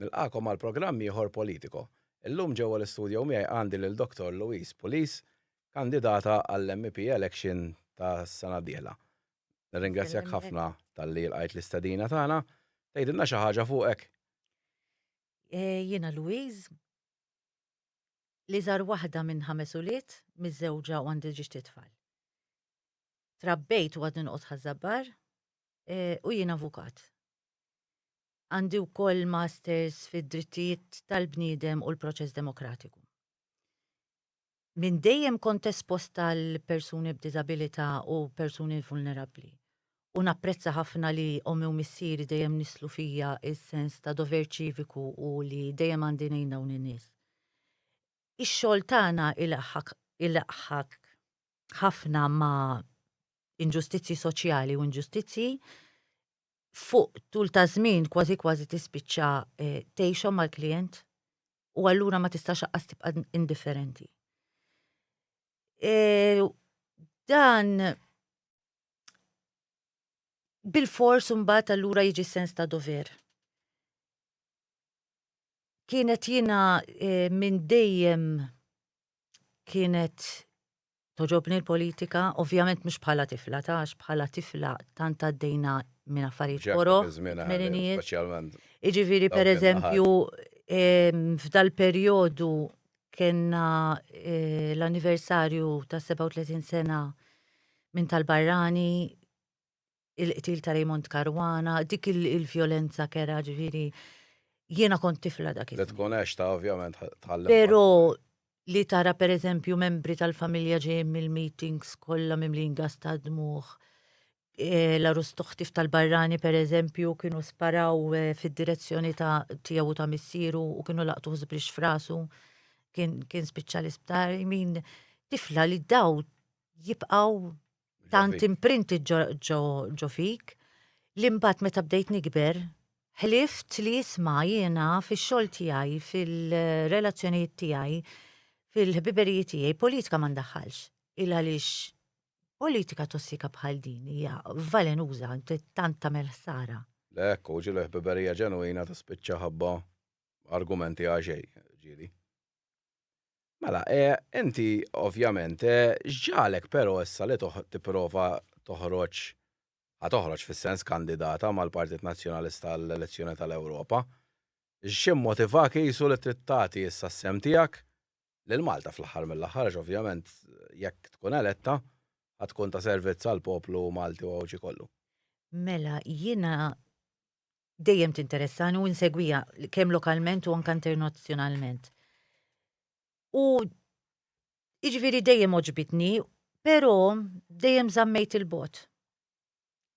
Nilqagħkom għal programm ieħor Politico. Illum ġewwa l-istudjo miegħi għandi lil Dottor Louise Pulis, kandidata għall-MEP election tas-sena d-dieħla. Nirringrazzjak ħafna talli lqajt l-istedina tagħna. Tgħidilna xi ħaġa fuqek? Jiena Louise, l-iżgħar waħda minn ħames ulied, miżżewġa u għandi ġiex tliet tfal. Trabbejt u għadni noqgħod Ħaż-Żabbar u jien avukat. Għandi wkoll Masters fid-Drittijiet tal-Bniedem u l-Proċess Demokratiku. Minn dejjem kont espost għal persuni b'diżabilità u persuni vulnerabbli, u napprezza ħafna li ommi u missieri dejjem nisslu fija s-sens ta' dover ċiviku u li dejjem għandi ngħin dawn in-nies. Ix-xogħol tagħna ilaħħaq ħafna ma' inġustizzji soċjali u inġustizzji fuq tul ta' żmien kważi kważi tispiċċa eh, tgħixhom mal-klijent u allura ma tistax aqqas tibqa' indifferenti. Eh, dan bil-fors mbagħad allura jiġi sens ta' dover. Kienet jiena eh, minn dejjem kienet Togħġobni l-politika, ovvjament mhux bħala tifla ta' għax bħala tifla tant għaddejna minn affarijiet Ġekk koroh, dak iż-żmien għadek, tmeninijiet. speċjalment. Jiġifieri Dawk pereżempju ehm, f'dal perjodu kellna eh, l-anniversarju ta' 37 sena minn tal-barrani il-qtil ta' Raymond Caruana, dik il-vjolenza kera ġviri. Jiena kont tifla dak il-. Tkun għax ta' ovvjament tħallem. Pero li tara per eżempju membri tal-familja ġejjin mill-meetings kollha mimlin gas ta' dmuħ. Eh, la rustuħtif tal-barrani per eżempju kienu sparaw eh, fid-direzzjoni ta' tiegħu ta' missieru u kienu laqtu żbrix frasu kien, kien spiċċa l-isptar. Min tifla li daw jibqaw tant imprinti ġo fik li mbagħad meta bdejt nikber ħlift li jisma' jiena fix-xogħol tiegħi, fil-relazzjonijiet tiegħi, fil-ħbiberijiet tiegħi, politika ma ndaħħalx. Il għaliex politika tossika bħal din hija valenuża tant tagħmel ħsara. Lekk, u ġilu ħbiberija ġenwina tispiċċa ħabba argumenti għaxej, ġieli. Mela, eh, inti, ovvjament, eh, x'ġagħlek però issa li toħ, tipprova toħroġ, ħa toħroġ fis-sens kandidata mal-Partit Nazzjonalista għall-elezzjoni tal-Ewropa? X'immotivak qisu li trid tagħti issa s-sehem tiegħek lil Malta fl-aħħar mill-aħħar għax ovvjament jekk tkun eletta ħa tkun ta' servizz għall-poplu Malti u Għawdxi kollu? Mela, jiena dejjem tinteressani u nsegwija kemm lokalment u anke internazzjonalment. U iġviri dejjem oġbitni, pero dejjem zammejt il-bot.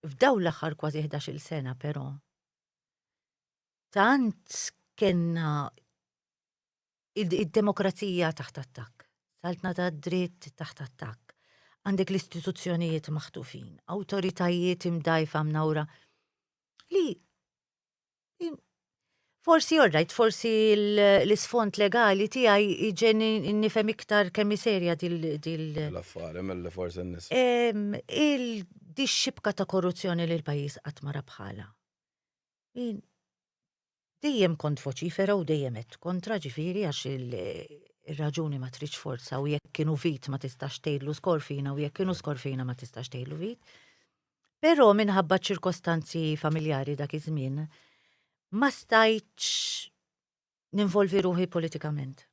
F'daw l-axar kważi 11 sena, pero. Tant kena id-demokrazija taħt attak, saltna ta' dritt taħt attak, għandek l-istituzzjonijiet maħtufin, autoritajiet imdajfa mnawra. Li Forsi orrajt, forsi l-isfond legali tiegħi iġen nifhem iktar kemm serja dil. L-affari mill-li forsi n-nis. Il-dixxibka ta' korruzzjoni li l-pajis qatt mara bħala. Dejjem kont voċifera u dejjem għedt kontra ġifieri għax ir-raġuni ma tridx forza u jekk kienu vit ma tistax tgħidlu skorfina u jekk kienu skorfina ma tistax tgħidlu vit. Però minħabba ċirkostanzi familjari dak iż-żmien ma stajtx ninvolvi ruħi politikament.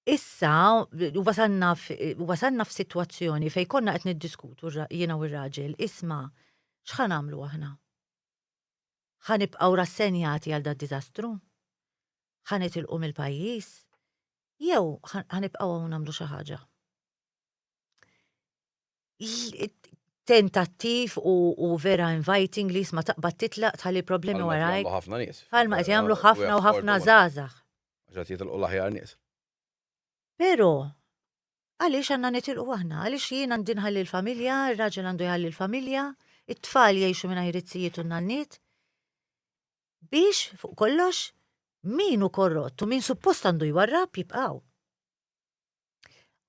Issa wasanna wasanna f'sitwazzjoni fejn konna qed niddiskutu jiena u r-raġel isma' x'ħa nagħmlu aħna. Ħa nibqgħu rassenjati għal dad-diżastru? Ħa nitilqu mill-pajjiż? Jew ħa nibqgħu hawn nagħmlu xi ħaġa? tentattiv u, u vera inviting li jisma taqbad titlaq tħalli problemi waraj. ħafna nies. Għalma qed jagħmlu ħafna u ħafna żgħażagħ. Ġat jitilqu l-aħjar nies. Però Għaliex għandna nitilqu aħna? Għaliex jien għandi nħalli l-familja, ir-raġel għandu jħalli l-familja, it-tfal jgħixu mingħajr it-sijiet u n-nanniet? Biex, fuq kollox, min u korrott u min suppost għandu jwarrab jibqaw.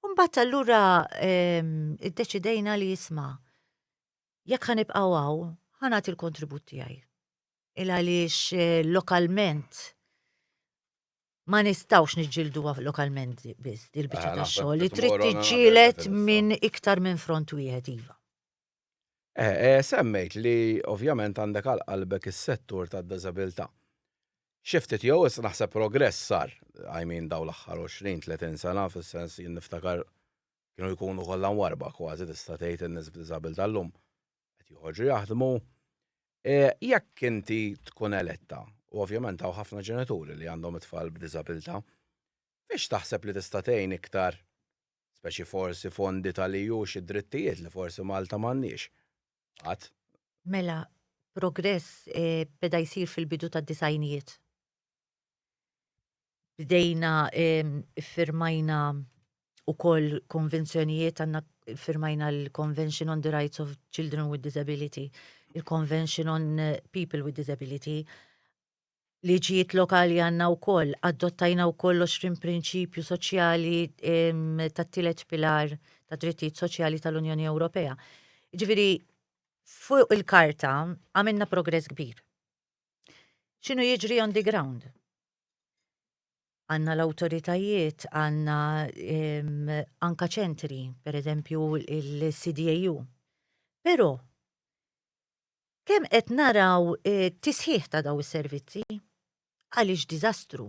Umbat allura ehm, id-deċidejna li jisma, jekk ħanibqaw għaw, ħanat il-kontribut tiegħi. Il għaliex eh, lokalment ma nistawx niġġilduha lokalment biss il-biċċa ta' xogħol li trid tiġġielet minn iktar minn front wieħed iva. Eh, eh, semmejt li ovvjament għandek għal qalbek is-settur tad-diżabilità. Xiftit jew issa naħseb progress sar, I mean daw l-aħħar 20-30 sena fis-sens jien niftakar kienu jkunu kollha warba kważi tista' tgħid in-nies b'diżabilità llum. qed joħorġu jaħdmu, e, jekk inti tkun eletta, u ovvjament hawn ħafna ġenituri li għandhom it-tfal b'diżabilità, biex taħseb li tista' tgħin iktar speċi forsi fondi tal-EU xi drittijiet li forsi Malta m'għandniex. Qatt. Mela, progress e, beda jsir fil-bidu tad-disajnijiet. bdejna iffirmajna wkoll konvenzjonijiet għandna firmajna l-Convention on the Rights of Children with Disability, il-Convention on eh, People with Disability, liġijiet lokali għanna u koll, adottajna u koll 20 prinċipju soċjali ta' tilet pilar ta' drittijiet soċjali tal-Unjoni Ewropea. Ġifiri, fuq il-karta għamilna progress kbir. X'inhu jiġri on the ground? Għanna l-awtoritajiet, għanna anka ċentri, per eżempju il-CDAU. Però kemm qed naraw eh, tisħiħ ta' daw is-servizzi għaliex diżastru.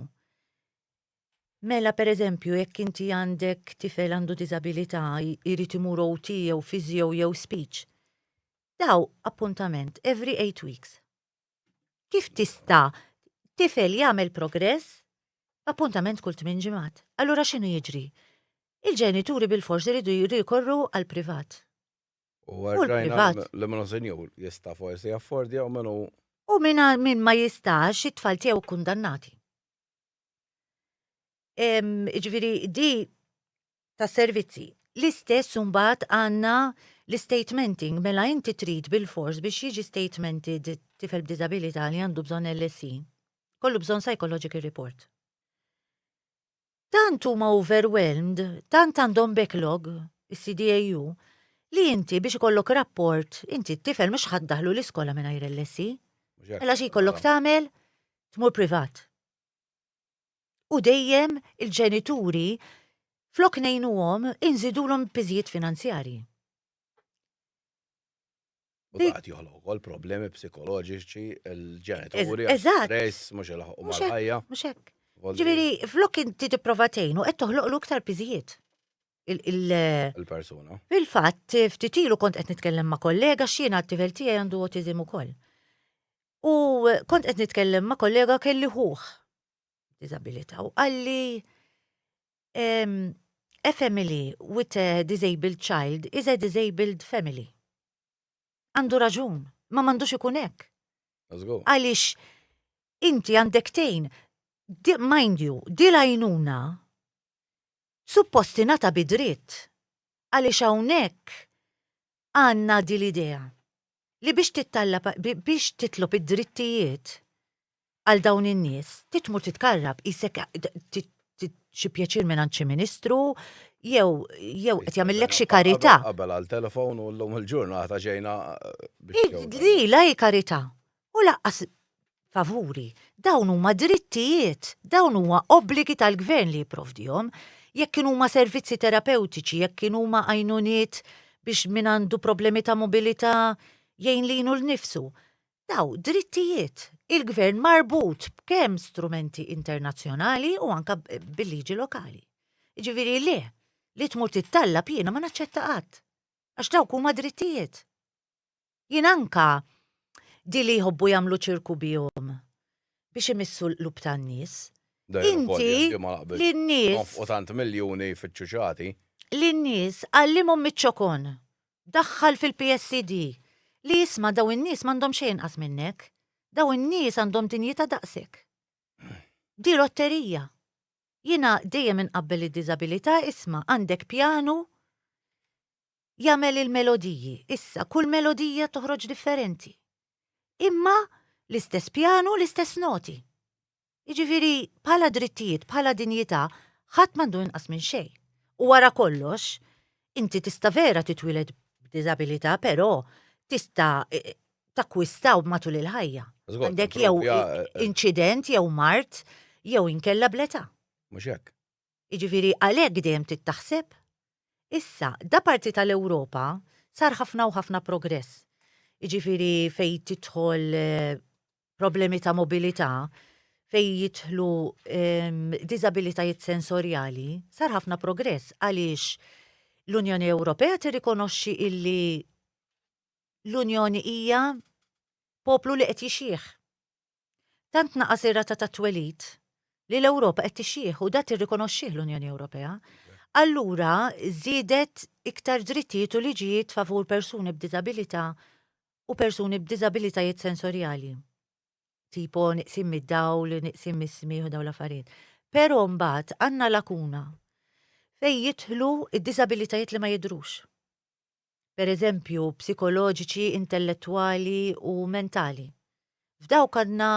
Mela per eżempju jekk inti għandek tifel għandu diżabilità jrid imur OT jew fizio jew speech. Daw appuntament every eight weeks. Kif tista' tifel jagħmel progress b'appuntament kull tmien ġimgħat? Allura x'inhu jiġri? Il-ġenituri bil-fors iridu jirrikorru għall-privat. U l-privat. Li minnu senjur jista' forsi jaffordja u minnu. U minn min ma jistax it-tfal tiegħu kundannati. Ġifieri di tas-servizzi. L-istess imbagħad għandna l-istatementing, mela inti trid bilfors biex jiġi statemented tifel b'diżabilità li għandu bżonn LSE, jkollu bżonn psychological report. Tant huma overwhelmed, tant għandhom backlog is-CDAU li inti biex ikollok rapport, inti t-tifel mhux ħadd daħlu l-iskola mingħajr LSE. Mela xi jkollok tagħmel? Tmur privat. u dejjem il-ġenituri flok ngħinuhom inżidulhom piżijiet finanzjarji. U għat joħloq ukoll problemi psikoloġiċi l-ġenituri. Eżatt. Mhux il-ħaqqa. Mhux hekk. Mhux hekk. Ġifieri flok inti tipprova tgħinu qed toħloqlu iktar piżijiet il-persuna. Fil-fatt, ftit ilu kont qed nitkellem ma' kollega x'jiena t-tifel tiegħi għandu autizm ukoll. U kont qed nitkellem ma' kollega kelli ħuħ disabilità u qalli a family with a disabled child is a disabled family. Għandu raġun, ma mandux ikun hekk. Għaliex inti għandek tejn, mind you, di lajnuna suppostinata bidrit. Għaliex hawnhekk Għandna din l-idea li biex tittallab, biex titlob id-drittijiet għal dawn in-nies, trid tmur titkarrab, qisek xi pjaċir mingħand xi ministru, jew jew qed jagħmillek xi karità. Qabel għal telefon u llum il-ġurnata ġejna biex. Di la hi karità. u lanqas favuri. Dawn huma drittijiet, dawn huwa obbligi tal-gvern li jipprovdihom. Jekk kienu huma servizzi terapewtiċi, jekk kienu huma għajnuniet biex min għandu problemi ta' mobilità jgħin lilu nnifsu. Daw drittijiet. Il-gvern marbut b'kemm strumenti internazzjonali u anke bil-liġi lokali. Ġifieri le, li tmur tittallab jiena ma naċċetta qatt. Għax dawk huma drittijiet. Jien anka di li jħobbu jagħmlu ċirku bihom biex imissu l-qlub tan-nies. Inti lin-nies. Nonfqu tant miljuni jfittxu xi ħati. Lin-nies għallimhom miċ-ċokon. Daħħal fil-PSD. Li isma' daw in-nies m'għandhom xejn inqas minnek. Daw in-nies għandhom dinjità daqsek. Di lotterija. Jiena dejjem inqabbel id-diżabilità isma' għandek pjanu jagħmel il-melodiji, issa kull melodija toħroġ differenti. Imma l-istess pjanu, l-istess noti. Jiġifieri bħala drittijiet, bħala dinjità, ħadd m'għandu inqas minn xejn. U wara kollox, inti tista' vera titwiled b'diżabilità, però tista' takkwistaw matul il-ħajja. Għandek jew eh, eh. inċident, jew mart, jew inkella bleta. Mhux hekk. Jiġifieri għalhekk dejjem trid taħseb. Issa, da parti tal-Ewropa sar ħafna u ħafna progress. Jiġifieri fejn tidħol problemi ta' mobilità, fejn jidħlu diżabilitajiet sensorjali, sar ħafna progress għaliex l-Unjoni Ewropea tirrikonoxxi illi l-Unjoni hija poplu li qed jixjieħ. Tant naqas ir-rata ta' twelid li l-Ewropa qed tixjieħ u dat tirrikonoxxih l-Unjoni Ewropea, allura żiedet iktar drittijiet u liġijiet favur persuni b'diżabilità u persuni b'diżabilitajiet sensorjali, tipo niqsin mid-dawl, niqsin mis-smigħ u dawn l-affarijiet. Però mbagħad għandna lakuna fejn jidħlu d-diżabilitajiet li ma jidhrux. per eżempju psikoloġiċi, intellettwali u mentali. F'dawk għandna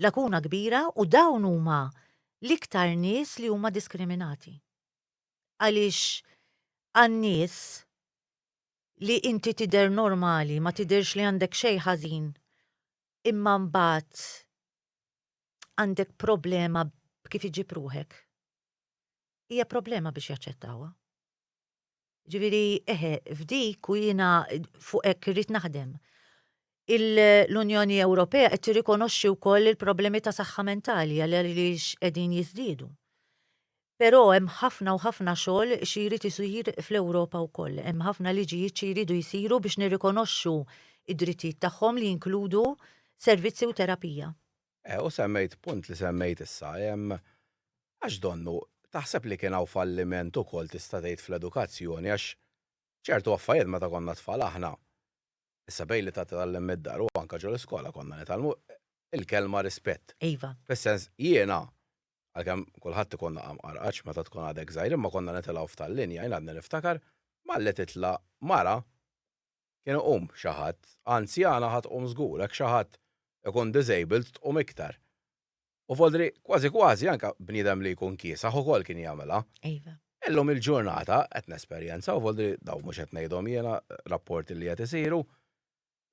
lakuna kbira u dawn huma l-iktar nies li huma diskriminati. Għaliex għan-nies li inti tidher normali, ma tidhirx li għandek xejn ħażin, imma mbagħad għandek problema b'kif iġib ruħek. Hija problema biex jaċċettawha. Ġifieri eħe, f'dik u jiena fuq hekk irrid naħdem. L-Unjoni Ewropea qed tirrikonoxxi wkoll il-problemi ta' saħħa mentali għaliex qegħdin jiżdiedu. Però hemm ħafna u ħafna xogħol xi jrid isir fl-Ewropa wkoll. Hemm ħafna liġijiet xi jridu jsiru biex nirrikonoxxu d-drittijiet tagħhom li jinkludu servizzi u terapija. Eh, u semmejt punt li semmejt issa, hemm għax donnu taħseb li kien hawn falliment ukoll tista' tgħid fl-edukazzjoni għax ċertu affarijiet meta konna tfal aħna issa bejn li ta' tgħallem mid-dar u anke ġol iskola konna nitgħallmu il-kelma rispett. Iva. Fis-sens jiena għalkemm kulħadd ikun naqam qarqax meta tkun għadek żgħir imma konna nitilgħu f'tal-linja jien għadni niftakar malli titla' mara kien iqum xi ħadd, anzjana ħa tqum żgur, hekk xi ħadd ikun disabled tqum iktar. U Vodri, kważi kważi anke bniedem li jkun kiesaħ ukoll kien jagħmilha. Iva. Illum il-ġurnata qed nesperjenzaw, Vodri, dawn mhux qed ngħidhom jiena, rapporti li qed isiru,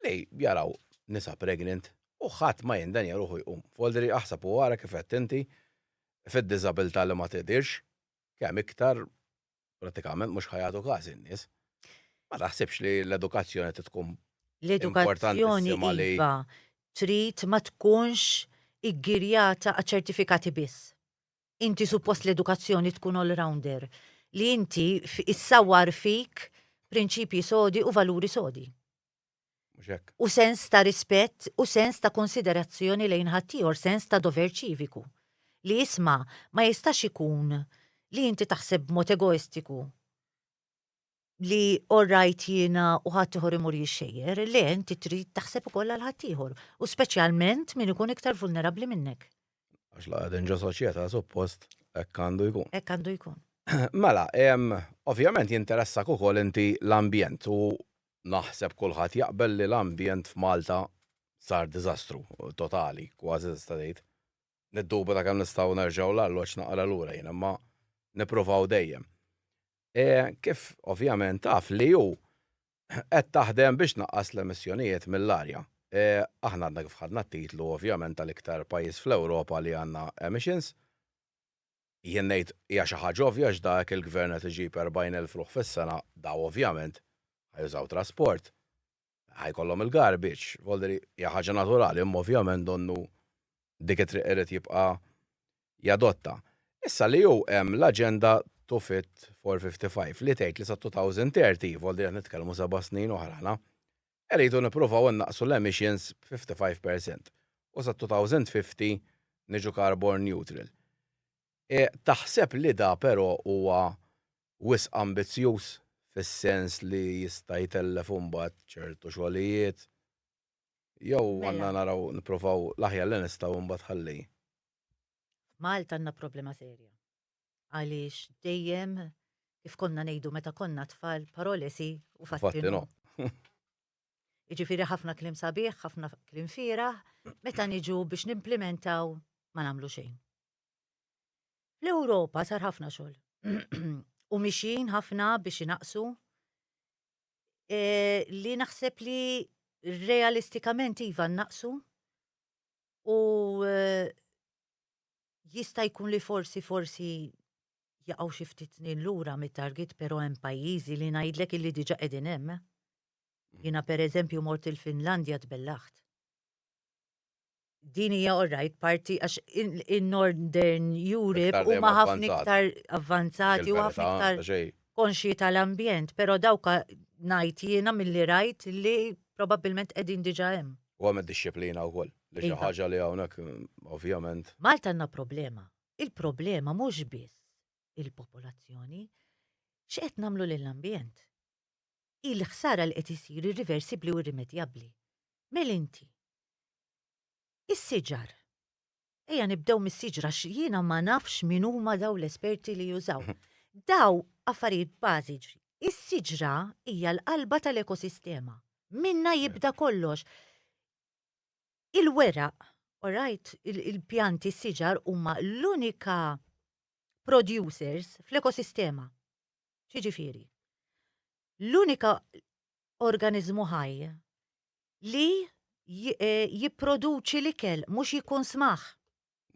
li jaraw nisa pregnant u ħadd ma jindenja ruħu jqum. Vodri, aħseb u ara kif għedt inti, fid-diżabilità li ma tidhirx, kemm iktar prattikament mhux ħa jagħtu każ in-nies. Ma taħsibx li l-edukazzjoni qed tkun L-edukazzjoni iva trid ma tkunx iggirjata għaċ ċertifikati biss. Inti suppost l-edukazzjoni tkun all-rounder li inti issawwar fik prinċipji sodi u valuri sodi. Mhux hekk? U sens ta' rispett u sens ta' konsiderazzjoni lejn ħaddieħor, sens ta' dover ċiviku. Li isma', ma jistax ikun li inti taħseb b'mod egoistiku li all right jiena u ħaddieħor imur jixxejjer, le inti trid taħseb ukoll għal ħaddieħor, u speċjalment min ikun iktar vulnerabbli minnek. Għax la qegħdin ġo soċjetà suppost hekk għandu jkun. Hekk għandu jkun. Mela, ovvjament jinteressak ukoll inti l-ambjent u Naħseb kulħadd jaqbel li l-ambjent f'Malta sar diżastru totali, kważi nista' ngħid. Niddubita kemm nistgħu nerġgħu l-arloġġ naqra lura jien, imma nippruvaw dejjem. E, kif ovvjament taf li hu qed taħdem biex tnaqqas l-emissjonijiet mill-arja. E, aħna għadna kif ħadna t-titlu ovvjament tal-iktar pajjiż fl-Ewropa li għandna emissions. Jien ngħid hija xi ħaġa ovvja għax da hekk il-Gvern qed iġib 40,000 ruħ fis-sena, daw ovvjament ħa jużaw trasport, ħa jkollhom il-garbage, volderi hija ħaġa naturali imma ovvjament donnu dik it-triq irid jibqa' jadotta. Issa li hu hemm l-aġenda to fit for 55 li tgħid li sa 2030, volderi qed nitkellmu seba' snin oħra aħna, irridu nippruvaw innaqqsu l-emissions b'55 per cent u sat-2050 niġu carbon neutral. Taħseb li da però huwa wisq ambizzjuż fis-sens li jista' jtellef imbagħad ċertu xogħlijiet jew għandna naraw nippruvaw l-aħjar li nistgħu imbagħad ħalli. F'Malta għandna problema serja. għaliex dejjem kif konna ngħidu meta konna tfal parolesi u fattino. Iġifiri ħafna klim sabiħ, ħafna klim fira, meta niġu biex nimplementaw ma nagħmlu xejn. Fl-Ewropa sar ħafna xogħol. u mixin ħafna biex inaqsu e, li naħseb li realistikament iva naqsu u e, Jista' jkun li forsi forsi jaqgħu xi ftit snin lura mit-target però hemm pajjiżi li ngħidlek illi diġà qegħdin hemm. Eh? Jiena pereżempju mort il-Finlandja tbellaħt. Din hija orrajt parti għax in-Northern Europe huma ħafna iktar avvanzati u ħafna iktar konxji tal-ambjent, però dawka ngħid jiena milli rajt li probabbilment qegħdin diġà hemm. U hemm id-disciplina wkoll. Li xi ħaġa li hawnhekk ovvjament. Malta għandna problema. Il-problema mhux biss il-popolazzjoni, x'qed nagħmlu lill-ambjent. Hi l-ħsara li qed isir irriversibbli u irrimedjabbli. Mel inti. Is-siġar. Ejja nibdew mis-siġra għax jiena ma nafx min huma dawn l-esperti li jużaw. Daw affarijiet bażiċi. Is-siġra hija l-qalba tal-ekosistema. Minnha jibda kollox. Il-weraq, orajt, il-pjanti, s-siġar huma l-unika producers fl-ekosistema. X'jiġifieri? L-unika organiżmu ħaj li jipproduċi l-ikel, mhux jikkunsmah.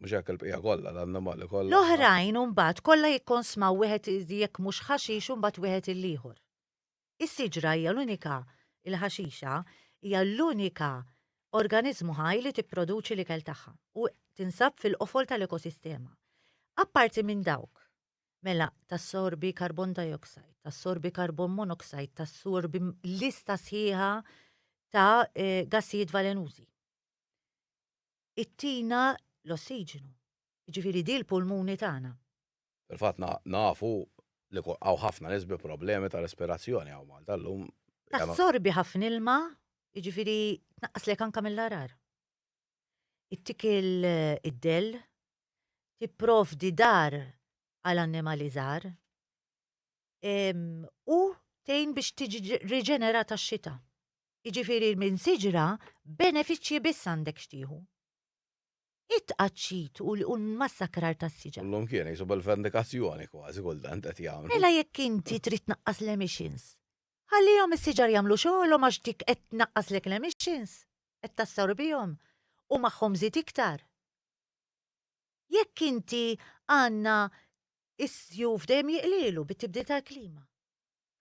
Mhux hekk il-bqija kollha, l-annimali kollha. L-oħrajn imbagħad kollha jikkonsmaw wieħed jekk mhux ħaxix u mbagħad wieħed il-ieħor. Is-siġra hija l-unika, il-ħaxixa, hija l-unika organiżmu ħaj li tipproduċi l-ikel tagħha u tinsab fil-qofol tal-ekosistema. Apparti minn dawk, mela tassorbi carbon dioxide, tassorbi carbon monoxide, tassorbi lista sħiħa ta' gassijiet valenużi. Ittina l-ossiġenu, jiġifieri di l-pulmuni tagħna. Fil-fatt nafu li hawn ħafna nies bi problemi ta' respirazzjoni hawn Malta llum. Tassorbi ħafna ilma, jiġifieri tnaqqaslek anke mill-għargħar. Ittik id-dell, tipprovdi dar għal annimali żgħar u tgħin biex tiġi riġenerata x-xita. Jiġifieri minn siġra benefiċċji biss għandek x'tieħu. it-tqaċċit u l-massakrar tas-siġar. Illum kien jgħixu bil-vendikazzjoni kważi kultant qed jagħmlu. Mela jekk inti trid tnaqqas l-emissions, ħallihom is-siġar jagħmlu xogħolhom għax dik qed tnaqqaslek l-emissions, qed tassorbihom u magħhom żid iktar. Jekk inti għandna s-sjuf dejjem jiqlielu bit-tibdil tal-klima.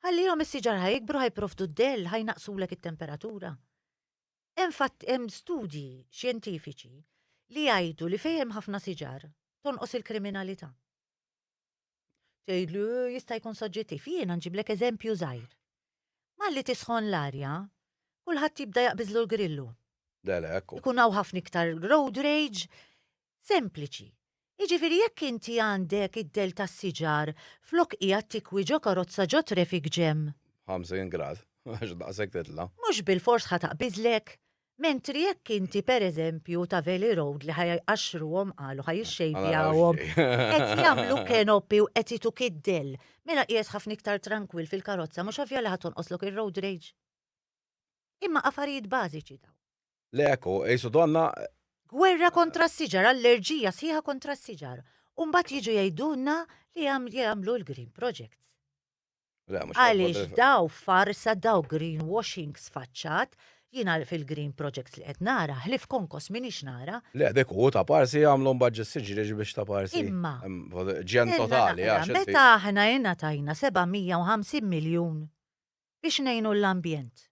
Ħallihom is-siġar ħa jikbru ħa jipprovdu d-dell, ħa jnaqqsulek it-temperatura. Infatti hemm studji xjentifiċi li jgħidu li fejn hemm ħafna siġar tonqos il-kriminalità. Tgħidli eh, jista' jkun soġġettiv, jiena nġiblek eżempju żgħir. Malli tisħon l-arja, kulħadd jibda jaqbiżlu l-grillu. Dalek. Ikun hawn ħafna iktar road rage, Sempliċi. Jiġifieri jekk inti għandek id-dell tas-siġar flok qiegħed tikwi ġo karozza ġo traffic jam. 50 grad, għax daqshekk titla'. Mhux bilfors ħa taqbiżlek. Mentri jekk inti pereżempju ta' Valley Road li ħa jqaxxruhom qalu ħa jixxejpjawhom, qed jagħmlu canopy u qed ituk id-dell, mela qiegħed ħafna iktar trankwill fil-karozza mhux ovvja li ħa tonqoslok ir-road rage? Imma affarijiet bażiċi dawn. Le hekk hu, qisu donnha. Gwerra kontra s-siġar, allerġija sħiħa kontra s-siġar. U mbagħad jiġu jgħidulna li jagħmlu l-green projects. Le, mhux Għaliex daw farsa daw greenwashing sfaċċat, jiena fil-green projects li qed nara, ħlif konkos minix nara. Le, dik hu ta' parsi jagħmlu mbagħad ġis-siġriex biex ta' parsi. Imma. Ġen totali, għax. Meta aħna ingħatajna 750 miljun biex ngħinu l-ambjent.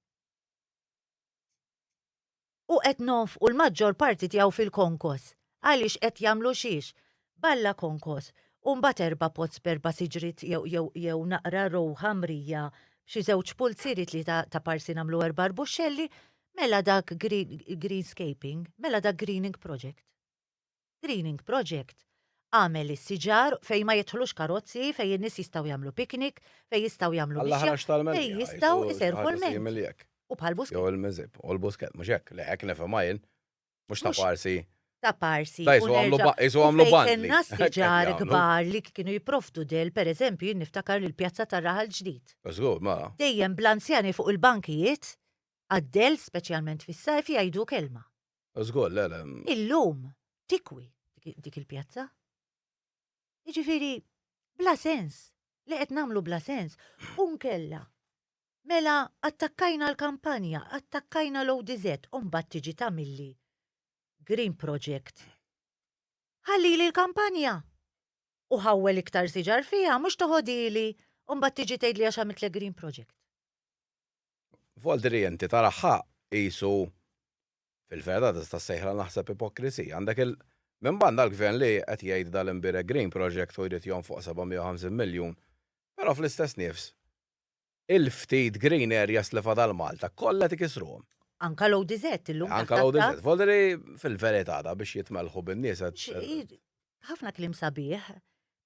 U qed nonfqu l-maġġor parti tiegħu fil-konkos. Għaliex qed jagħmlu xiex? B'Alla konkos, u mbagħad erba' pots b'erba' siġriet jew naqra rowħa mrija b'xi żewġ pulzieri tlieta ta' parsi nagħmlu erba' arbuxxelli, mela dak greenscaping, mela dak greening project. Greening Project, għamel is-siġar fejn ma jidħlux karozzi, fejn in-nies jistgħu jagħmlu picnic, fejn jistgħu jagħmlu mixja, Għall-aħrax tal-Melqija, fejn jgħidu jistgħu xi jserħu ħaġa l-ment. simili hekk. U bħal Busquets. Jew il-Miżieb, u l-Busquets, mhux hekk? Le, hekk nifhimha jien. Mhux ta' Mhux- parsi. ta' parsi. Da, jisu u għamlu nerġa' ba- jisu u għamlu fejn bandli. kellna Hekk qed s-siġar jagħmlu. kbar li kienu jipprovdu del, pereżempju jien niftakar l-Pjazza tar-Raħal Ġdid. Żgur, mela. Dejjem bl-anzjani fuq il-bankijiet għad-del, speċjalment fis-sajf, jgħidu kelma. Żgur, le, le. Illum tikwi dik il-pjazza. Jiġifieri bla sens, li qed nagħmlu bla sens, u nkella mela attakkajna l-kampanja, attakkajna l-ODZ, u mbagħad tiġi tagħmilli Green Project. Ħallili l-kampanja! U ħawwel iktar siġar fiha, mhux toħodili, u mbagħad tiġi tgħidli għax għamiltlek Green Project. Voltri inti tara ħaq qisu fil-verda tista' ssejħilha naħseb ipokrisija. Għandek il minn banda l-Gvern li qed jgħid dal-Imbirek Green Project u jrid jonfoq 750 miljun, però fl-istess nifs il-ftit green areas li fadal Malta kollha qed ikissruhom. Anka l-ODZ illum taħt attakk. Anka l-ODZ. Voltri fil-verità da biex jitmellħu bin-nies qed. Ħafna kliem sabiħ,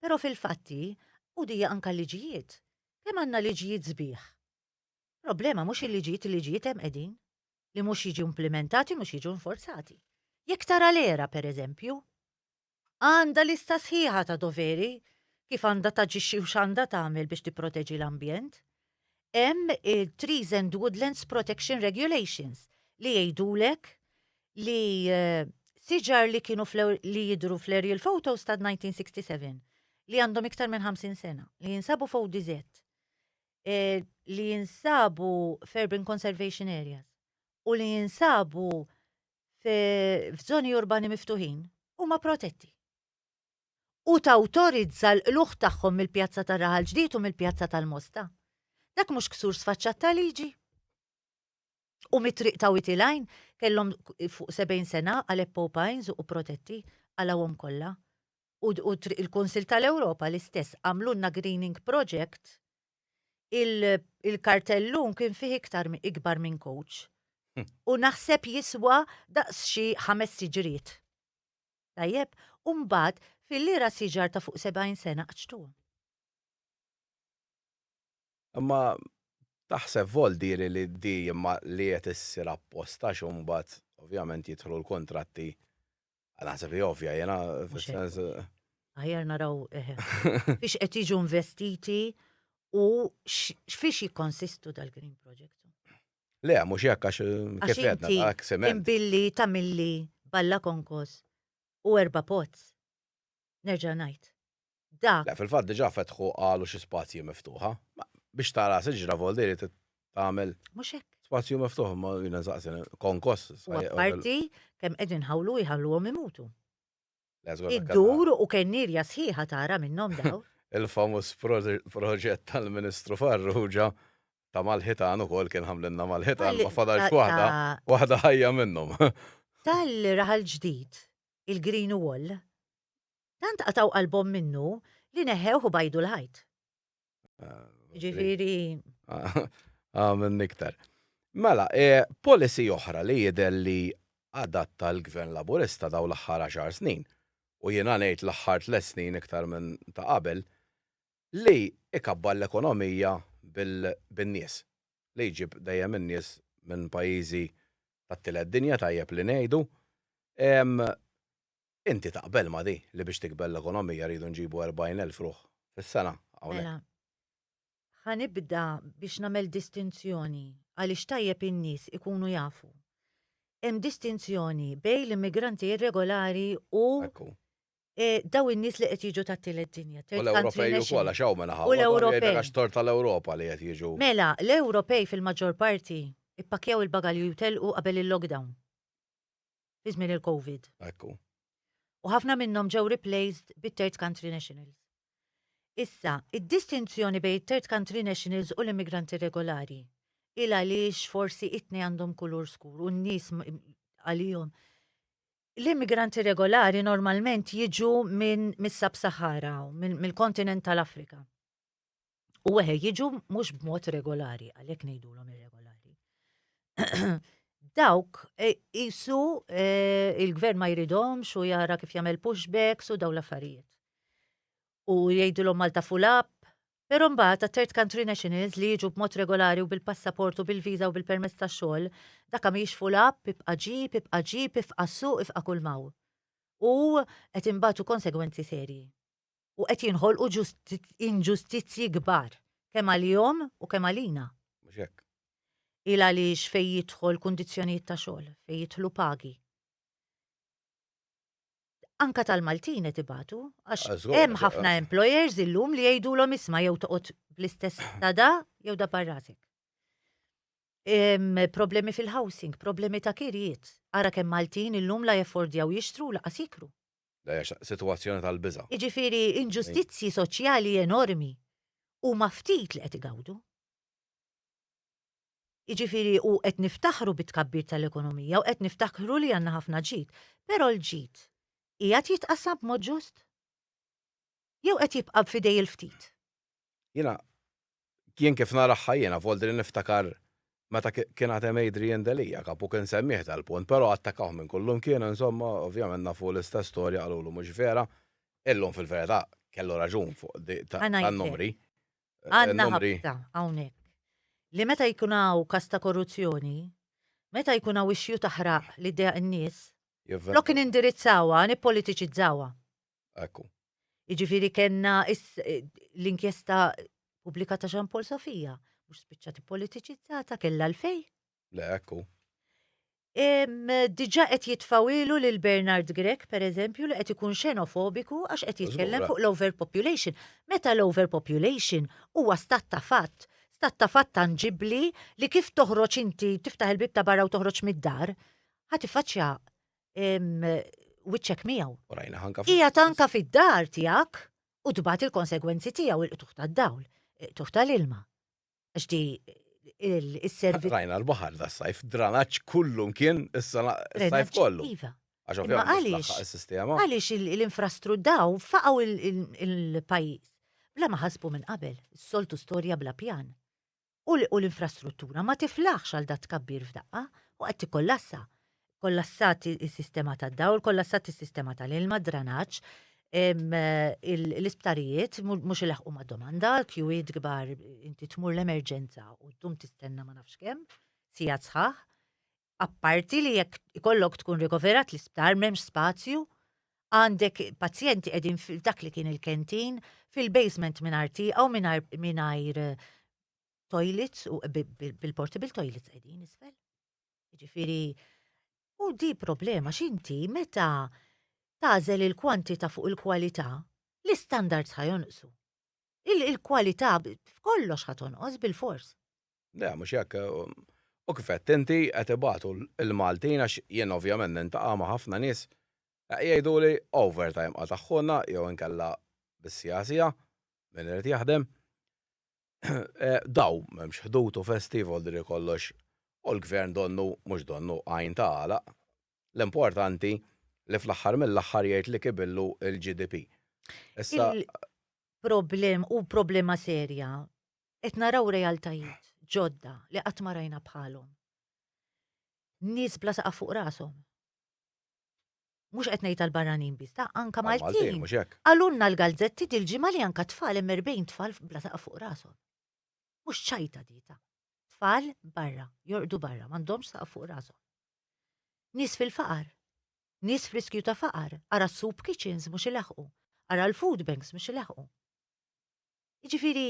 però fil-fatti u dija anka l-liġijiet. Kemm għandna liġijiet sbieħ Problema mhux il-liġijiet, il-liġijiet hemm qegħdin, li mhux jiġu implimentati, mhux jiġu inforzati. Jekk tara l-ERA, pereżempju, għandha lista sħiħa ta' doveri kif għandha taġixxi u x'għandha tagħmel biex tipproteġi l-ambjent. Hemm il-Trees and Woodlands Protection Regulations li jgħidulek li eh, siġar li kienu li jidru fl-aerial photos ta' 1967 li għandhom iktar minn 50 sena li jinsabu fuq dizet eh, li jinsabu f'urban conservation areas u li jinsabu f'żoni urbani miftuħin huma protetti. U tawtorizza l-qluħ tagħhom mill-Pjazza tar-Raħal Ġdid u mill-Pjazza tal-Mosta. Dak mhux ksur sfaċċat ta' liġi. U mit-triq ta' Witilajn kellhom fuq 70 sena għal Eppo Pines u protetti għalawhom kollha. u il-Kunsill tal-Ewropa l-istess għamlulna greening project, il-kartellun kien fih iktar ikbar minn coach. U naħseb jiswa daqs xi ħames siġriet. Tajjeb, u mbagħad fil-lira siġar ta' fuq 70 sena qċtuhom. Imma taħseb voldiri li di imma li qed issir apposta x'umbagħad ovvjament jidħlu l-kuntratti Naħseb li ovvja, jena, fil-sens. Għajar naraw, eh, biex qed jiġu investiti u x'fiex jikkonsistu dal-Green Project. Le, mhux jekk għax eh, kif għedna dak sement. Imbilli tamilli balla konkos u erba pots. Nerġa' ngħid, dak. Le, fil-fatt diġà fetħu qalu xi spazji miftuħa. Biex tara siġra vol diri tagħmel. Mhux hekk. Spazju miftuħ ma jiena nsaqsi konkos. Parti kemm qegħdin ħawlu jħalluhom imutu. Iddur u kennirja sħiħa tara minnhom daw. Il-famuż proġett tal-Ministru Farrugia ta' mal-ħitan ukoll kien ħamlinna mal-ħitan ma fadalx waħda, waħda ħajja minnhom. Tal-raħal ġdid il-Green Wall, tant qatgħu qalbhom minnu li neħewh u bajdu l-ħajt. Ġifieri. Għamil niktar. Mela, e, policy oħra li jidher li adatta l-Gvern Laburista daw l-aħħar 10 snin, u jiena ngħid l-aħħar tliet snin iktar minn ta' qabel, li ikabbar l-ekonomija bin-nies, li jġib dejjem in-nies minn pajjiżi tat-tielet dinja tajjeb li ngħidu. Inti taqbel ma' di li biex tikber l-ekonomija rridu nġibu 40,000 ruħ fis-sena hawnhekk? Mela, ħa nibda biex nagħmel distinzjoni għaliex tajjeb in-nies ikunu jafu. Hemm distinzjoni bejn l-immigranti irregolari u eh, daw in-nies li qed jiġu tat-tielet dinja. U third country l-Ewropej ukoll national. għax hawn mela U l-Ewropej. ħafna għax tor tal-Ewropa li qed jiġu. Mela, l-Ewropej fil-maġġor parti ippakkjaw il-bagalji u jitilqu qabel il-lockdown. Fi żmien il-Covid. Ekku. U ħafna minnhom ġew replaced bit-third country nationals. Issa, id-distinzjoni bejn it-third country nationals u l-immigranti regolari il għaliex forsi itni għandhom kulur skur u n-nies m- għalihom L-immigranti regolari normalment jiġu minn mis-Sab-Sahara, mill-kontinent tal-Afrika. U weħe jiġu mhux b'mod regolari, għalhekk ngħidulhom irregolari. Dawk qisu e, e, il-gvern ma jridhomx u jara kif jagħmel pushbacks u daw l-affarijiet. U jgħidulhom Malta full up, Però mbagħad għat-third country nationals li jiġu b'mod regolari u bil-passaport u bil-viża u bil-permess ta' xogħol, dakka mhijiex full up, ibqa' ġib, ibqa' ġib, ifqa' suq, ifqa' kulmaw. U qed inbatu konsegwenzi serji. U qed jinħolqu inġustizzji kbar, kemm għalihom u kemm għalina. Mhux hekk. Il għaliex fejn jidħol kundizzjonijiet ta' xogħol, fejn jidħlu pagi. anka tal-Maltin qed ibatu, għax Ah, żgur, hemm għax- ħafna employers illum li jgħidulhom isma' jew toqgħod bl-istess ta' da jew da parrasek. Em, Problemi fil-housing, problemi ta' kirjiet. Ara kemm Maltin illum la jaffordjaw jixtru laqas jikru. Da hija xa- sitwazzjoni tal-biża'. Jiġifieri inġustizzji soċjali enormi huma ftit li qed igawdu. Jiġifieri u qed niftaħru bit-tkabbir tal-ekonomija u qed niftakru li għandna ħafna ġid, però l-ġid qiegħed jitqassam b'mod ġust? Jew qed jibqa' f'idej il-ftit? Jiena jien kif naraha jiena f'għoldi li niftakar meta kien għad hemm Adrian Delia, kapu kien semmieh dal-punt, però attakkawh minn kull imkien insomma, ovvjament nafu l-istess storja qalulu mhux vera, illum fil-verità kellu raġun fuq tan-numri. Għandna ħabta hawnhekk li meta jkun hawn każ ta' korruzzjoni, meta jkun hawn issue ta' ħraq li ddejjaq in-nies, flok nindirizzawha, nippolitiċizzawha. Ekku. Jiġifieri kellna l-inkjesta pubblika ta' Jean Paul Sofia, mhux spiċċat ippolitiċizzata, kellha għalfejn. Le, hekk hu. Diġà qed jitfgħu ilu lil Bernard Grech, pereżempju, li qed ikun xenofobiku għax qed jitkellem fuq l-overpopulation. Meta l-overpopulation huwa stat ta' fatt, stat ta' fatt tanġibbli li kif toħroġ inti tiftaħ il-bieb ta' barra u toħroġ mid-dar, ħa tiffaċċja wiċċek miegħu. Hija tanka fid-dar tiegħek u tbagħat il-konsegwenzi tiegħu il-qtugħ tad-dawl, il-qtugħ tal-ilma. Għax di il-servizz. Rajna l-baħar da sajf, dranaċ kullum kien is-sajf kollu. Iva. Għax għaliex il-sistema. Għaliex l-infrastru daw faqaw il-pajis. Bla ma ħasbu minn qabel, soltu storja bla pjan. U l-infrastruttura ma tiflaħx għal dat kabbir f'daqqa u għed tikollassa. kollassat is-sistema tad-dawl, kollassat is-sistema tal-ilma, dranaġġ, l-isptarijiet mhux ilaħqu ma' domanda, kjuwiet kbar inti tmur l-emerġenza u tum tistenna ma nafx kemm, sija sħaħ. Apparti li jekk ikollok tkun rikoverat l-isptar m'hemmx spazju, għandek pazjenti qegħdin dak li kien il-kentin fil-basement mingħajr tieqa u mingħajr eh, toilets u bil-portable toilets qegħdin isfel. Jiġifieri u di problema x'inti meta tagħżel il-kwantità fuq il-kwalità, l-istandards ħa jonqsu. Il-kwalità f'kollox ħa tonqos bilfors. Le, mhux hekk. U kif għedt inti, qed ibatu l-Maltin għax jien ovvjament nintaqa' ma' ħafna nies, jgħiduli overtime qatagħhulna jew inkella bis-siegħa siegħa, min irid jaħdem. Daw, m'hemmx ħdud u festi, jvolidri kollox, u l-Gvern donnu, mhux donnu, għajn ta' għalaq. L-importanti li fl-aħħar mill-aħħar jgħid li kibillu l-GDP. Issa. Il-problem u problema serja, qed naraw realtajiet ġodda li qatt ma rajna bħalhom. Nies bla saqaf fuq rashom. mhux qed ngħid għall-barranin biss, ta' anka Maltin. Qalulna l-galzetti dil-ġimgħa li anka tfal hemm 40 tfal bla saqaf fuq rashom. Mhux ċajta dita. Tfal barra, jorqdu barra, m'għandhomx saqaf fuq rashom. Nies fil-faqar, nies friskju ta' faqar, ara s-soup kitchens mhux ilaħqu, ara l-food banks mhux ilaħqu. Jiġifieri,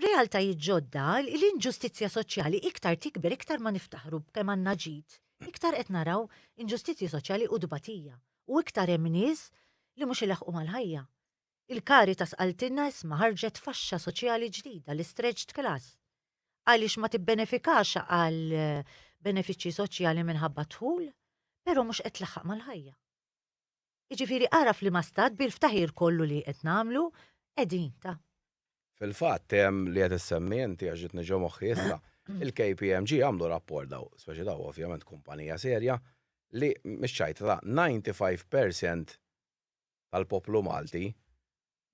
realtajiet ġodda, l-inġustizzja soċjali iktar tikber, iktar ma niftaħru b'kemm għandna ġid, iktar qed naraw inġustizzji soċjali u tbatija, u iktar hemm nies li mhux ilaħħqu mal-ħajja. Il-Caritas qaltilna isma' ħarġet faxxa soċjali ġdida, l-istretched class. Għaliex ma tibbenefikax għal benefiċċji soċjali minħabba d-dħul, però mhux qed tlaħħaq mal-ħajja. Jiġifieri ara f'liema stat bil-ftaħir kollu li qed nagħmlu qegħdin, ta. Fil-fatt, li qed issemmi inti għax ġietni ġo moħħi issa, il-KPMG għamlu rapport daw, speċi daw ovvjament kumpanija serja, li mix-ċajta ta' 95 percent tal-poplu Malti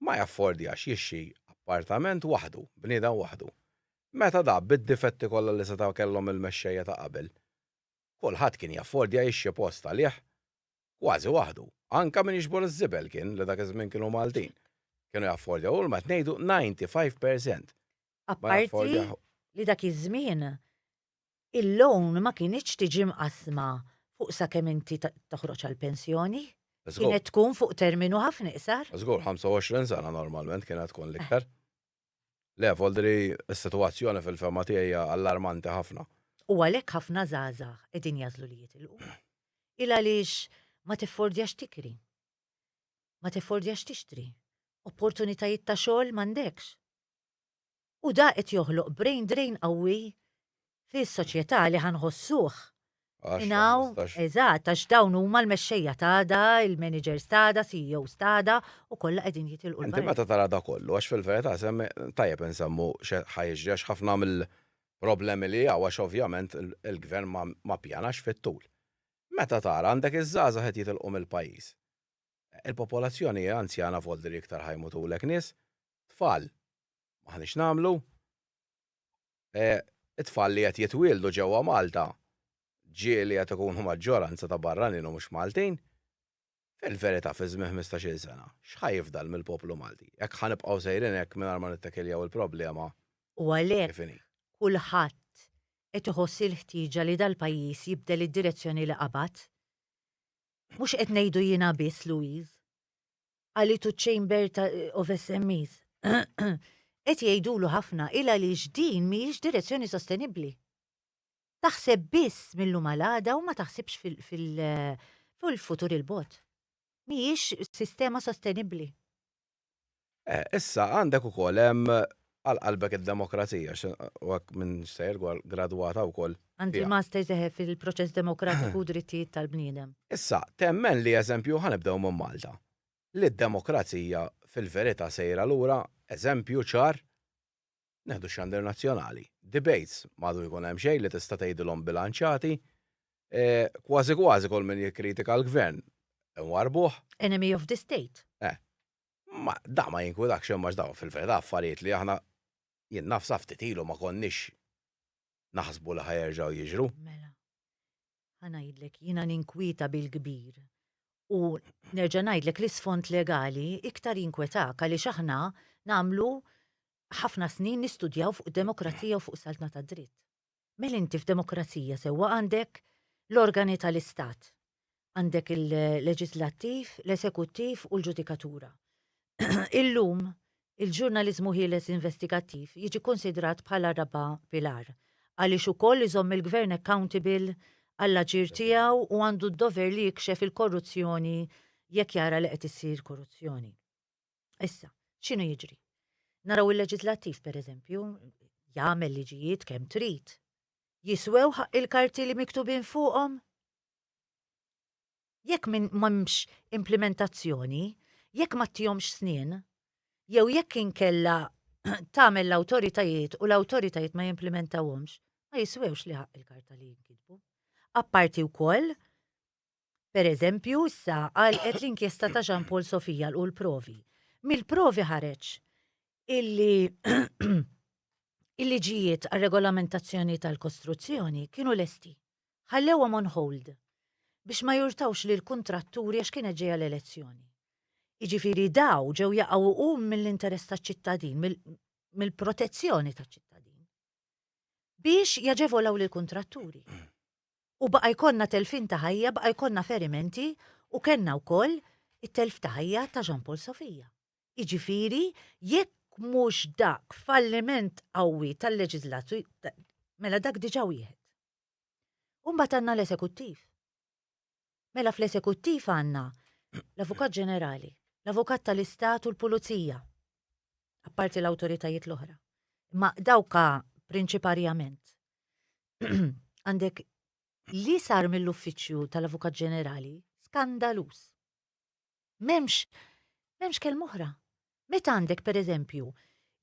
ma jaffordjax jixtri appartament waħdu, bniedem waħdu. Meta da bid-difetti kollha li setgħu kellhom il-mexxejja ta' qabel, kulħadd kien jaffordja jixtri post għalih kważi waħdu. Anke min jiġbor iż-żibel kien, li dak iż-żmien kienu Maltin. Kienu jaffordjaw u l-mat ngħidu 95 percent. Apparti li dak iż-żmien il-loan ma kinitx tiġi mqassma fuq sakemm inti toħroġ għall-pensjoni. Kienet tkun fuq terminu ħafna iqsar. Żgur, 25 sena normalment kienet tkun l-iktar. Le, Foldri, is-sitwazzjoni fil-fehma tiegħi hija allarmanti ħafna. U għalhekk ħafna żgħażagħ qegħdin jagħżlu li jitilqu. Il għaliex ma tiffordjax tikri. Ma tiffordjax tixtri. Opportunitajiet ta' xogħol m'għandekx. U da qed joħloq brain drain qawwi fi soċjetà li ħa nħossuh Għax ma ingħaw nistax. eżatt għax dawn huma l-mexxejja t'għada, il-managers t'għada, CEOs t'għada u kollha qegħdin jitilqu Inti l-barra. meta tara da kollu, għax fil-verità semmi, tajjeb insemmu x'e ħa jiġri għax ħafna mill-problemi li hawn għax ovvjament il il-gvern ma ma ppjanax fit-tul. Meta tara għandek iż-żgħażagħ qed jitilqu mill-pajjiż. Il-popolazzjoni hi anzjana v'għoldiri iktar ħa jmutulek nies, tfal m'aħniex nagħmlu. It-tfal li qed jitwieldu ġewwa Malta, ġieli li qed ikunu maġġoranza ta' barranin u mhux Maltin, fil-verità fi żmien ħmistax-il sena, x'ħa jifdal mill-poplu Malti? Jekk ħa nibqgħu sejrin hekk mingħajr ma nittakiljaw il-problema kif inhi. U għalhekk kulħadd qed iħoss il-ħtieġa li dal-pajjiż jibdel id-direzzjoni li qabad. Mhux qed ngħidu jiena biss, Louise. Qalitu ċ-Chamber ta' of SMEs. Qed jgħidulu ħafna il għaliex din mhijiex direzzjoni sostenibbli. Taħseb biss mil-lum għal għada u ma taħsibx fil-futur il-bogħod. Mhijiex sistema sostenibbli. Issa għandek ukoll hemm għal qalbek id-demokrazija, u għak minn sejr għal gradwata u koll. Għandi master seħe fil-proċess demokratiku u drittijiet tal-bniedem. Issa, temmen li eżempju ħanibdew minn Malta. Li d-demokrazija fil-verita sejra l-ura, eżempju ċar, neħdu xandir nazzjonali. Debates, madu jkun hemm xejn li tista' tgħidilhom bilanċati, eh, kważi kważi kol minn jikkritika l-gvern, warbuħ. Enemy of the state. Eh, Ma da ma jinkwilakx imma għax dawn fil-verità affarijiet li aħna jien naf sa ftit ilu ma konniex naħsbu li ħa jerġgħu jiġru. Mela. Ħa ngħidlek, jiena ninkwieta bil-kbir. U nerġa' ngħidlek l-isfond legali iktar jinkwetak għaliex aħna nagħmlu ħafna snin nistudjaw fuq demokrazija u fuq saltna tad-dritt. Mela inti f'demokrazija sewwa għandek l-organi tal-istat. Għandek il-leġislattiv, l-esekuttiv u l-ġudikatura. Illum, il-ġurnaliżmu ħieles investigattiv jiġi kkunsidrat bħala r-raba' pilar, għaliex ukoll iżomm il-gvern accountable għall-aġir tiegħu u għandu d-dover li jikxef il-korruzzjoni jekk jara li qed issir korruzzjoni. Issa, x'inhu jiġri? Naraw il-leġislattiv, per eżempju, jagħmel liġijiet kemm trid. Jiswew ħaq il-karti li miktubin fuqhom? Jekk minn m'hemmx implementazzjoni, jekk ma tihomx snin, jew jekk inkella tagħmel l-awtoritajiet u l-awtoritajiet ma jimplementawhomx, ma jiswewx li ħaq il-karta li jinkitbu. Apparti wkoll Per eżempju, issa għalqet l-inkjesta ta' Jean Paul Sofia lqu l-provi. Mill-provi ħareġ illi il-liġijiet għar-regolamentazzjoni tal-kostruzzjoni kienu lesti. Ħallewhom on hold biex ma jurtawx lill-kuntratturi għax kienet ġejja l-elezzjoni. Jiġifieri daw ġew jaqgħu hum mill-interess taċ-ċittadin, mill-protezzjoni taċ-ċittadin biex jaġevolaw lill-kuntratturi. U baqa' jkollna telfien ta' ħajja, baqa' jkollna ferimenti u kellna wkoll it-telf ta' ħajja ta' Jean Paul Sofia. Jiġifieri jekk mhux dak falliment qawwi tal-leġiżlatur, mela dak diġà wieħed. U mbagħad għandna l-esekuttiv. Mela fl-Esekuttiv għandna l-Avukat Ġenerali, l-Avukat tal-Istat u l-Pulizija, apparti l-awtoritajiet l-oħra. Imma dawk prinċiparjament. Għandek li sar mill-Uffiċċju tal-Avukat Ġenerali skandaluż. M'hemmx m'hemmx kelm oħra. Meta għandek pereżempju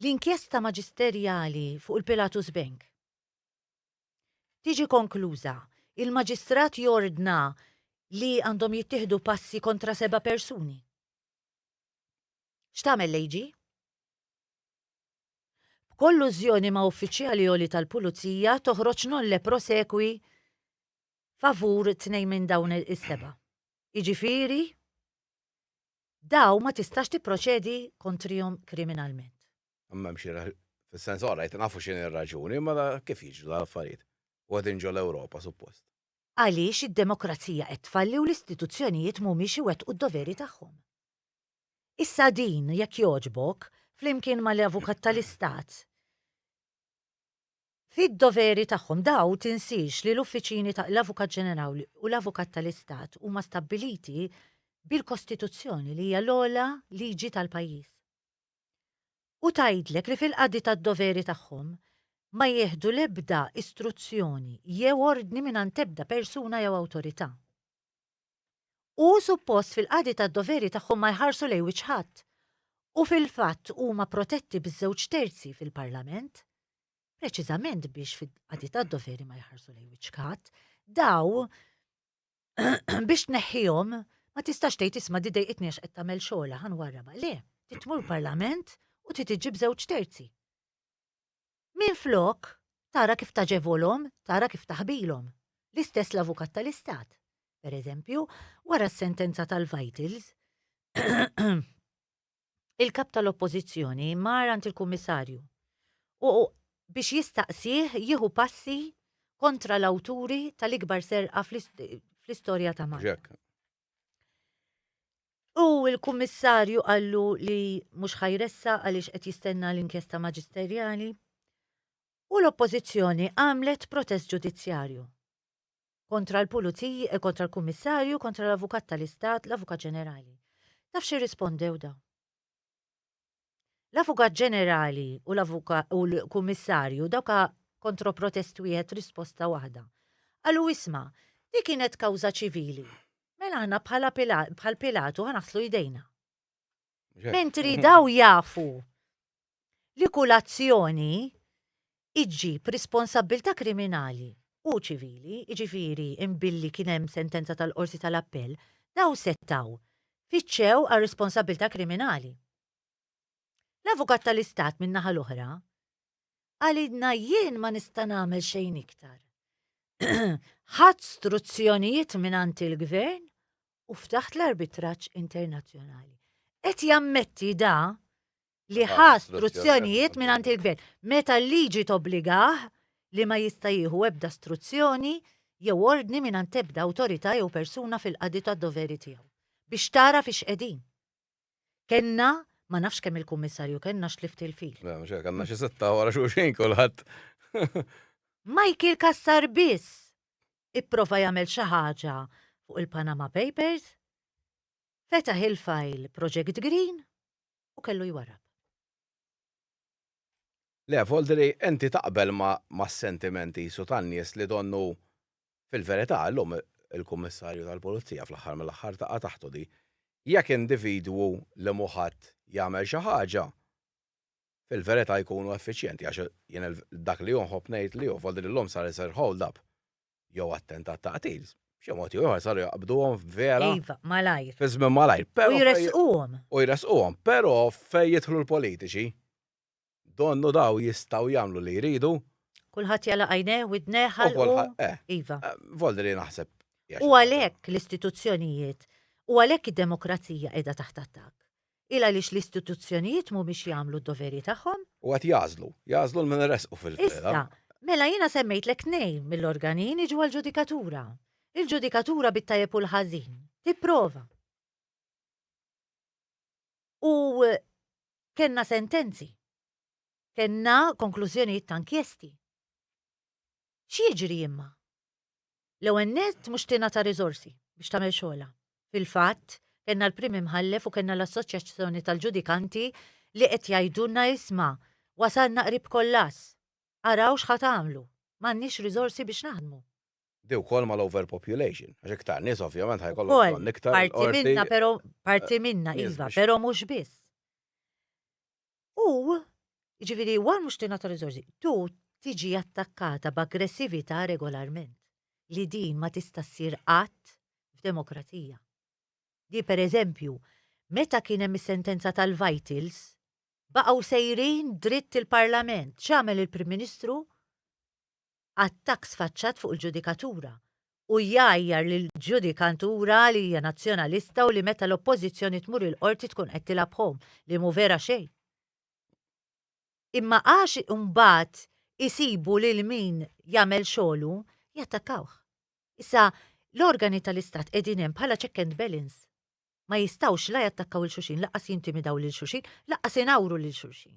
l-inkjesta maġisterjali fuq il-Pilatus Bank. tiġi konkluża, il-Maġistrat jordna li għandhom jittieħdu passi kontra seba' persuni. X'tagħmel l-AG? B'kollużjoni ma' uffiċjali għoli tal-Pulizija toħroġ nolle prosequi favur tnejn minn dawn is-seba'. Jiġifieri, dawn ma tistax tipproċedi kontrihom kriminalment. M'hemm xi fis-sens ora jt nafu x'inhi r-raġuni, mela kif jiġru l-affarijiet? U qegħdin ġo l-Ewropa suppost. Għaliex id-demokrazija qed tfalli u l-istituzzjonijiet mhumiex iwettqu d-doveri tagħhom. Issa din, jekk jogħġbok, flimkien ma' l-Avukat ta' l-Istat, fid-doveri tagħhom daw tinsiex li l-uffiċini ta' l-Avukat Ġenerali u l-Avukat ta' l-Istat huma stabbiliti bil-Kostituzzjoni li hija l-ogħla liġi tal-pajjiż. u tgħidlek li fil-qadi tad-doveri tagħhom ma jieħdu l-ebda istruzzjoni jew ordni mingħand ebda persuna jew awtorità. U suppost fil-qadi tad-doveri tagħhom ma jħarsu lejn wiċċ ħadd u fil-fatt huma protetti biż-żewġ terzi fil-Parlament preċiżament biex fil-qadi tad-doveri ma jħarsu lejn wiċċ ħadd, dawn biex tneħħihom ma tistax tgħid isma' di dejqitni għax qed tagħmel xogħla ħan warraba. Le, titmur parlament u titiġib żewġ terzi. Min flok tara kif taġevolhom, tara kif taħbilhom. L-istess l-avukat tal-istat. Per eżempju, wara s-sentenza tal-Vitals, il-Kap tal-Oppożizzjoni mar għand il-Kummissarju u biex jistaqsih jieħu passi kontra l-awturi tal-ikbar serqa fl-istorja ta' Malta. U l-Kummissarju qallu li mhux ħajressa għaliex qed jistenna l-inkjesta maġisterjali u l-Oppożizzjoni għamlet protest ġudizzjarju. Kontra l-pulizij, kontra l-kummissarju, kontra l-avukat tal-istat, l-avukat ġenerali. Taf xi rispondew dawn? L-avukat ġenerali u l-kummissarju dawka kontroprotest wieħed risposta waħda. Qalu isma, di kienet kawża ċivili. Mela aħna bħal Pilatu ħanaħslu jdejna. Mentri daw jafu li kull azzjoni ġġib responsabbiltà kriminali u ċivili, jiġifieri billi kien hemm sentenza tal-Qorti tal-Appell, dawn setgħu fittxew għal responsabbiltà kriminali. L-Avukat tal-Istat min-naħa l-oħra qalilna jien ma nista' nagħmel xejn iktar. Ħadt struzzjonijiet mingħand il-Gvern u ftaħt l-arbitraġġ internazzjonali. Qed jammetti da li ħa struzzjonijiet mingħand il-gvern. Meta l-liġi tobbligah li ma jista' jieħu ebda struzzjoni jew ordni mingħand ebda awtorità jew persuna fil-qadi tad-doveri tiegħu. Biex tara fiex qegħdin. Kellna ma nafx kemm il-kummissarju kellna xlift il-fil. Le, mhux hekk, għandna xi sitta wara xulxin kulħadd. Michael Kassar biss ipprova jagħmel xi ħaġa fuq il-Panama Papers, fetaħ il-fajl Project Green, u kellu jwarrab. Le, Volderi, inti taqbel mas-sentiment qisu tan-nies li donnu Fil-verità, illum il-Kummissarju tal-Pulizija fl-aħħar mill-aħħar taqa' taħtu di. Jekk individwu li mhu ħadd jagħmel xi ħaġa, fil-verità jkunu effiċjenti għax jien dak li hu nħobb ngħid li hu, Volderi, illum sar isir hold-up. jew attentat ta' qtil, b'xi mod ieħor saru jaqbduhom vera. Iva, malajr. Fi żmien malajr. U jresquhom. U jresquhom, però fejn jidħlu l-politiċi, donnu daw jistgħu jagħmlu li jridu. Kulħadd jala' għajnejh, widnejh, ħalqu. Eh. Iva. Eh, Voldri naħseb. U għalhekk l-istituzzjonijiet, u għalhekk id-demokrazija qiegħda taħt attakk. Il għaliex l-istituzzjonijiet mhumiex jagħmlu d-doveri tagħhom? U qed jagħżlu, jagħżlu lil min iressqu fil-verità. Issa, mela jiena semmejtlek tnejn mill-organin iġu għall-ġudikatura. Il-ġudikatura bit-tajjeb u l-ħażin, tipprova. U kellna sentenzi. Kellna konklużjonijiet ta' inkjesti. X'jiġri imma? L-ewwel nett mhux tingħata riżorsi biex tagħmel xogħolha. Fil-fatt, kellna l-Prim Imħallef u kellna l-Assoċjazzjoni tal-Ġudikanti li qed jgħidulna isma', wasalna qrib kollass. Araw x'ħa tagħmlu. M'għandniex riżorsi biex naħdmu. Di wkoll mal-overpopulation, għax iktar nies ovvjament ħa jkollhom bżonn iktar. Ukoll, parti minnha, però parti minnha iva, però mhux biss. U, jiġifieri, wara mhux tingħata riżorsi, tu tiġi attakkata b'aggressività regolarment, li din ma tista' ssir qatt f'demokrazija. Di pereżempju, meta kien hemm is-sentenza tal-Vitals, baqgħu sejrin dritt il-Parlament, x'għamel il-Prim Ministru? attakk sfaċċat fuq il-ġudikatura u jgħajjar lill-ġudikatura li hija nazzjonalista u li meta l-Oppożizzjoni tmur il-Qorti tkun qed tilgħab b'home, li mhu vera xejn. Imma għax imbagħad isibu lil min jagħmel xogħlu, jattakkawh. Issa, l-organi tal-Istat qegħdin hemm bħala check and balance. Ma jistgħux la jattakkaw 'il xulxin, lanqas jintimidaw lil xulxin, lanqas ingħawru lil xulxin.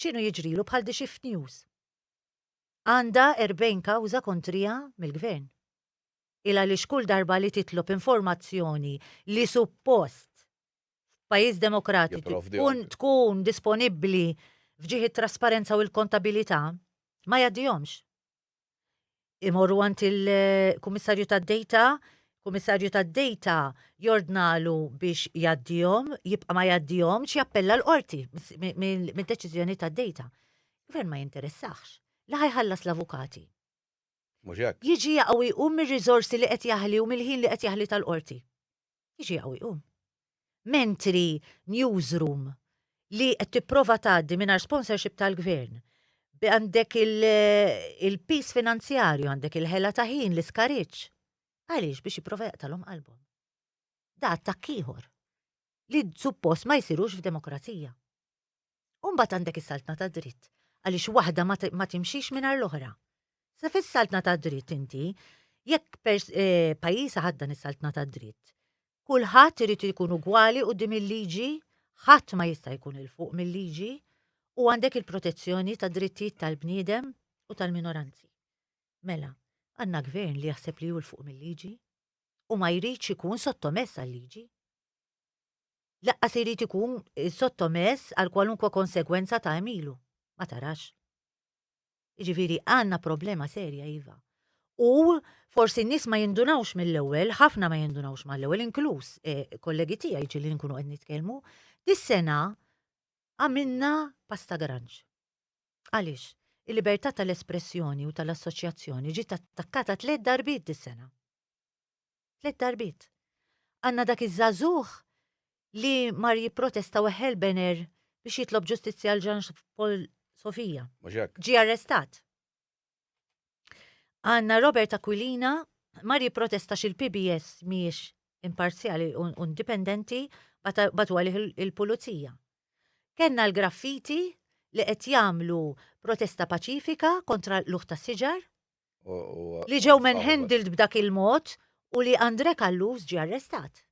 X'inhu jiġrilu bħal The Shift News? Għandha 40 kawża kontriha mill-Gvern. Il għaliex kull darba li titlob informazzjoni li suppost f'pajjiż demokratiku tkun tkun disponibbli f'ġieħ it-trasparenza u l-kontabilità, ma jgħaddihomx. imorru għand il-Kummissarju tad-Dejta, Kummissarju tad-Dejta jordnalu biex jaddihom, jibqa' ma jaddihom, jappella l-qorti mid-deċiżjoni tad-dejta. Gvern ma jinteressax. La ħajħallas l-avukati. Jiġi jaqgħu jqum mir-riżorsi li qed jaħli u mill-ħin li qed jaħli tal-qorti. jiġi hawn iqum. Mentri newsroom li qed tipprova tgħaddi mingħajr sponsorship tal-gvern għandek il-pis finanzjarju, għandek il-ħela ta' ħin, l-iskariċ. Għaliex biex jiprofa jaqtalhom qalbhom. Da attakk ieħor li suppost ma jsirux f'demokrazija. U mbagħad għandek is-saltna ta' dritt, għaliex waħda ma timxix mingħajr l-oħra. Sa fis-saltna ta' dritt inti, jekk eh, pajjiż ħaddan is-saltna ta' dritt, kulħadd irid ikun ugwali dim il-liġi, ħadd ma jista' jkun il fuq mill-liġi, u għandek il-protezzjoni ta' drittijiet tal-bniedem u tal-minoranzi. Mela, għandna gvern li jaħseb li hu l fuq mill-liġi u ma jridx ikun sottomess għal-liġi. Lanqas irid ikun sottomess għal kwalunkwe konsegwenza ta' għemilu. Ma tarax? Jiġifieri għandna problema serja iva. U forsi n-nies ma jindunawx mill-ewwel, ħafna ma jindunawx mal-ewwel, inkluż eh, kollegi tiegħi ġieli nkunu qed nitkellmu, dis-sena għamilna pasta granġ. Għaliex? Il-libertà tal-espressjoni u tal-assoċjazzjoni ġiet attakkata tliet darbiet dis-sena. Tliet darbiet. Għandna dak iż-żagħżugħ li mar jipprotesta u ħel bener biex jitlob ġustizzja għal Jean Paul Sofia. Mhux hekk. Ġie arrestat. Għandna Robert Aquilina mar jipprotesta xil-PBS mhijiex imparzjali u u indipendenti bata- batu għalih il- il-pulizija. Kenna l-graffiti li qed jagħmlu protesta paċifika kontra l-uħ tas-siġar li ġew manhandled b'dak il-mod u li Andre Callus ġie arrestat.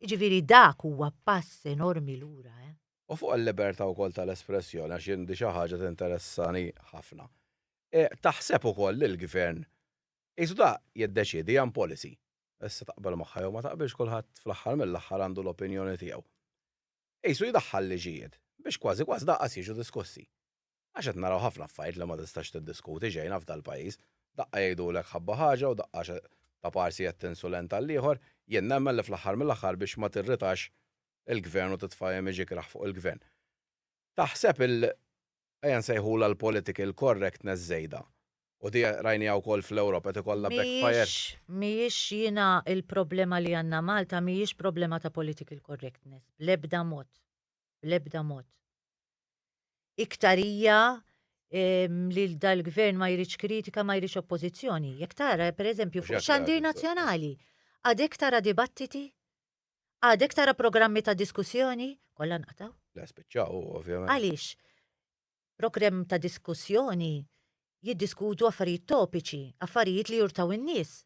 Jiġifieri dak huwa pass enormi lura, eh. U fuq il-libertà wkoll tal-espressjoni għax jien di xi ħaġa tinteressani ħafna. Taħseb ukoll li l-Gvern qisu da jiddeċiedi hija policy. Issa taqbel magħha jew ma taqbilx kulħadd fl-aħħar mill-aħħar għandu l-opinjoni tiegħu. Qisu jdaħħal liġijiet biex kważi kważi daqqas jiġu diskussi. Għax qed naraw ħafna affarijiet li ma tistax tiddiskuti xejn hawn f'dal-pajjiż. Daqqa jgħidulek ħabba ħaġa u daqqa ta' parsi qed tinsulenta lill-ieħor. Jien nemmen li fl-aħħar mill-aħħar biex ma tirritax il-Gvern u titfa' image ikrah fuq il-Gvern. Taħseb il ejja nsejħulha l-political correctness żejda. U di rajniha wkoll fl-Ewropa qed ikollha backfire. Mhijiex jiena il-problema li għandna Malta mhijiex problema ta' political correctness. Bl-ebda mod. Bl-ebda mod. Iktar hija li dal-gvern ma jridx kritika, ma jridx oppożizzjoni. Jekk tara, per eżempju, fuq xandir nazzjonali, għadek tara dibattiti, għadek tara programmi ta' diskussjoni, kollha nqataw. La spiċċaw, ovvjament. Għaliex, program ta' diskussjoni jiddiskutu affarijiet topiċi, affarijiet li jurtaw in-nies.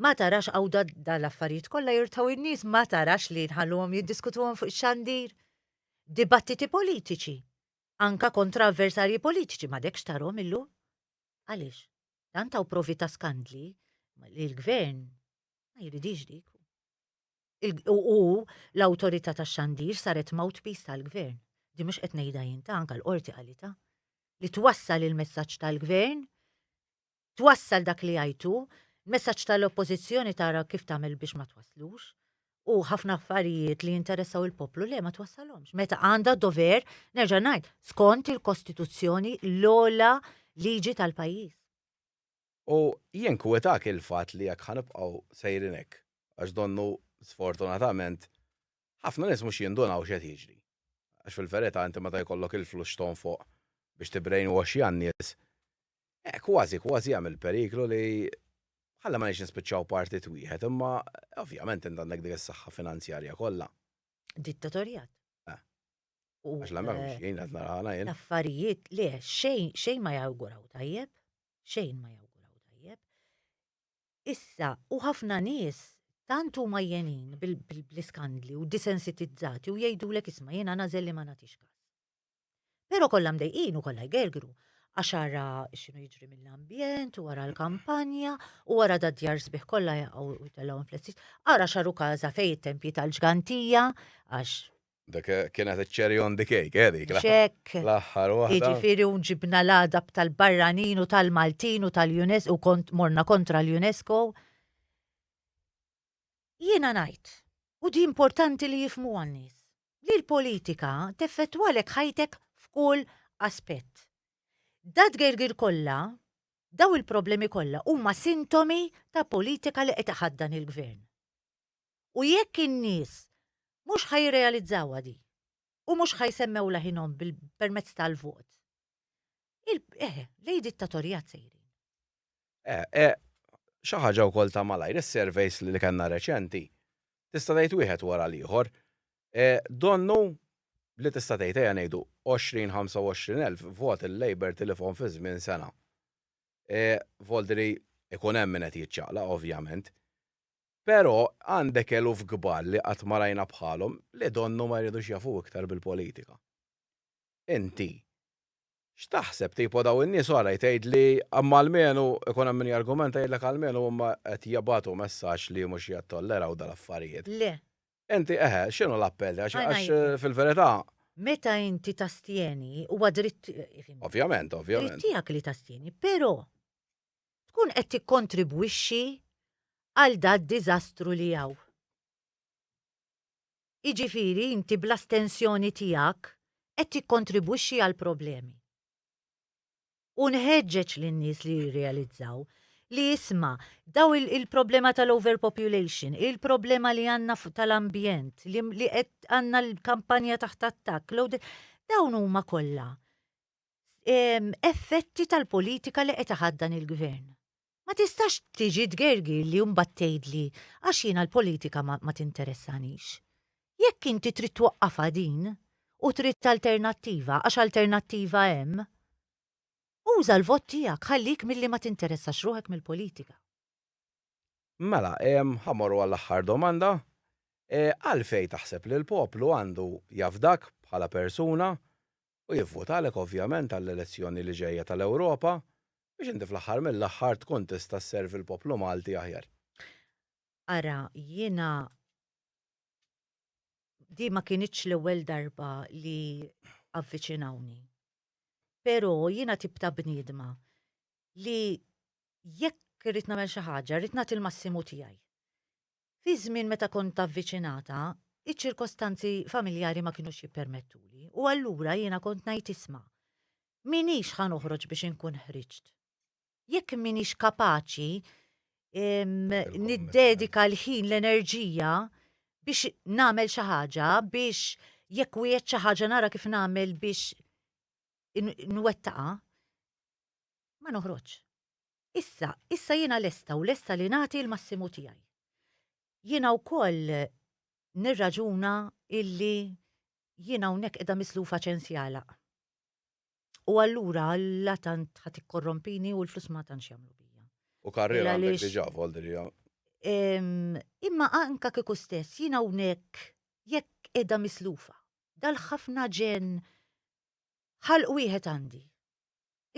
Ma tarax hawn dan l-affarijiet kollha jirtgħu n-nies, ma tarax li nħalluhom jiddiskutuhom fuq ix-xandir? Dibattiti politiċi, anke kontra avversarji politiċi, m'għadekx tarhom illum? Għaliex? Tant hawn provi ta' skandli li l-Gvern ma jridix dik. U l-awtorità tax-xandir saret mouthpiece tal-Gvern. Di mhux qed ngħidha jien ta' anke l-qorti qalita li twassal il-messaġġ tal-Gvern twassal dak li jgħid hu, il-messaġġ tal-Oppożizzjoni tara kif tagħmel biex ma twasslux, u ħafna affarijiet li jinteressaw il-poplu le ma twassalhomx. Meta għandha dover, nerġa' ngħid, skont il-Kostituzzjoni l-ogħla liġi tal-pajjiż. U jinkwetak il-fatt li jekk ħa nibqgħu sejrin hekk, għax donnu sfortunatament ħafna nies mhux jindunaw x'qed jiġri. Għax fil-verità inti meta jkollok il-flus x'tonfoq biex tibbrainwash jan-nies, Eh, kważi, kważi hemm il-periklu li ħalla ma nix nispiċċaw partit wieħed, imma ovvjament int għandek dik is-saħħa finanzjarja kollha. Dittatorjat. Eh. Għax la m'hemmx eh, jien qed narħana jien. Affarijiet le xejn xejn ma jawguraw tajjeb, xejn ma jawguraw tajjeb. Issa u ħafna nies tant huma jenin bil-iskandli u disensitizzati u jgħidulek isma' jiena nażel li ma nagħtix każ. Però kollha mdejqin u kollha jgergru għax ara x'inhu jiġri mill-ambjent u wara l-kampanja u wara da djar sbieħ kollha jaqgħu jtellgħu flessis. Ara xaru każa fejn it-tempji tal-ġgantija għax Dak kienet iċ-cherry on the cake, eh dik. Ċek. L-aħħar waħda. Jiġifieri u ġibna l-għadab tal-barranin u tal-Maltin u tal-UNESCO u kont morna kontra l-UNESCO. Jiena ngħid, u di importanti li jifhmuha n-nies, li l-politika teffettwalek ħajtek f'kull aspett. Dat-tgergir kollha, dawn il-problemi kollha huma sintomi ta' politika li qed iħaddan il-Gvern. U jekk in-nies mhux ħa jirrealizzawha di u mhux ħa jsemmew leħinhom permezz tal-vot, il, eh, lejn dittatorjat sejrin. Xi ħaġa wkoll ta' malajr, is-surveys li kellna reċenti, tista' tgħid wieħed wara l-ieħor, donnu li tista' tgħid ejja ngħidu 20, 25 elf vot il-Labour tilifhom fi żmien sena. Voldri jkun hemm min qed jiċċaqlaq ovvjament. Però għandek eluf kbar li qatt ma rajna bħalhom li donnu ma jridux jafu iktar bil-politika. Inti X'taħseb tipo daw in-nies u għalaj tgħid li imma almenu ikun hemm min jargumenta jgħidlek almenu huma qed jibgħatu messaġġ li mhux jattolleraw dal-affarijiet. Le. Inti eħe, x'inhu l-appell? Għax għax fil-verità. Meta inti tastjeni huwa dritt Ovvjament, ovvjament. Dritt tiegħek li tastjeni, però tkun qed tikkontribwixxi għal dad-diżastru li hawn. Jiġifieri inti bl-astensjoni tiegħek qed tikkontribwixxi għall-problemi. U nħeġġeġ lin-nies li jirrealizzaw li isma' daw il-problema tal-overpopulation, il-problema li għandna tal-ambjent, li qed għandna l-kampanja taħt attakk, dawn huma kollha effetti tal-politika li qed iħaddan il-gvern. Ma tistax tiġi tgergirli u mbagħad tgħidli għax jiena l-politika ma, ma tinteressanix. Jekk inti trid twaqqafha din u trid alternattiva, għax alternattiva hemm, uża l-vot tiegħek, ħallih milli ma tinteressax ruħek mill-politika. Mela, ħa morru għall-aħħar domanda. Għalfejn taħseb li l-poplu għandu jafdak bħala persuna u jivvutalek ovvjament għall-elezzjoni li ġejja tal-Ewropa biex inti fl-aħħar mill-aħħar tkun tista' sservi l-poplu Malti aħjar. Ara, jiena din ma kinitx l-ewwel darba li avviċinawni. Però jiena tip ta' bniedma li jekk rrid nagħmel xi ħaġa, rrid nagħti l-massimu tiegħi. Fi żmien meta kont avviċinata, iċ-ċirkostanzi familjari ma kinux jippermettuli u allura jiena kont ngħid isma', m'iniex ħa noħroġ biex inkun ħriġt. Jekk m'iniex kapaċi niddedika l-ħin l-enerġija biex nagħmel xi ħaġa biex jekk wieħed xi ħaġa nara kif nagħmel biex nwettaqa, ma noħroġx. Issa, issa jiena lesta u lesta li nagħti l-massimu tiegħi. Jiena wkoll nirraġuna illi jiena hawnhekk qiegħda mislufa ċens jagħlaq. U allura la tant ħadd ikkorrompini u l-flus ma tantx jagħmlu bija. U karriera għandek diġà volderija. Imma anka kieku stess jiena hawnhekk jekk qiegħda mislufa. Dal-ħafna ġen ħalq wieħed għandi.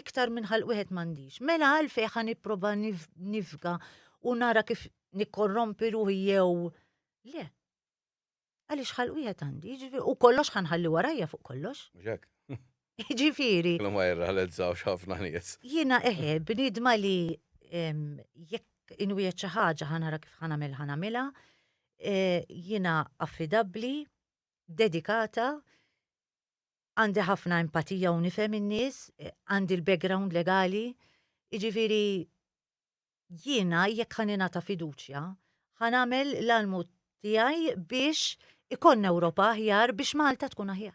iktar minn ħalq wieħed m'għandix. Mela għalfejn ħa nipprova nifga u nara kif nikkorrompi ruħi jew le. Għaliex ħalq wieħed għandi, ġifieri, u kollox ħanħalli warajja fuq kollox. Ġifieri. Kellu ma jirrealizzaw ħafna nies. Jiena eħe, bnidma li jekk inwiet xi ħaġa ħanara kif ħanamel ħanamilha, eh, jiena affidabbli, dedikata, Għandi ħafna empatija u nifhem in-nies, għandi l-background legali, jiġifieri jiena jekk ħa ningħata fiduċja, ħa nagħmel l-almu tiegħi biex ikollna Ewropa aħjar biex Malta tkun aħjar.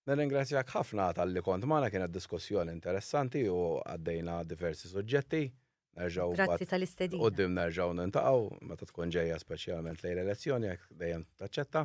Nirringrazzjak ħafna talli kont magħna kienet diskussjoni interessanti u għaddejna diversi suġġetti. Nerġgħu Grazzi tal-istedina. Qudiem nerġgħu nintaqgħu meta tkun ġejja speċjalment lejn elezzjoni jekk dejjem taċċetta.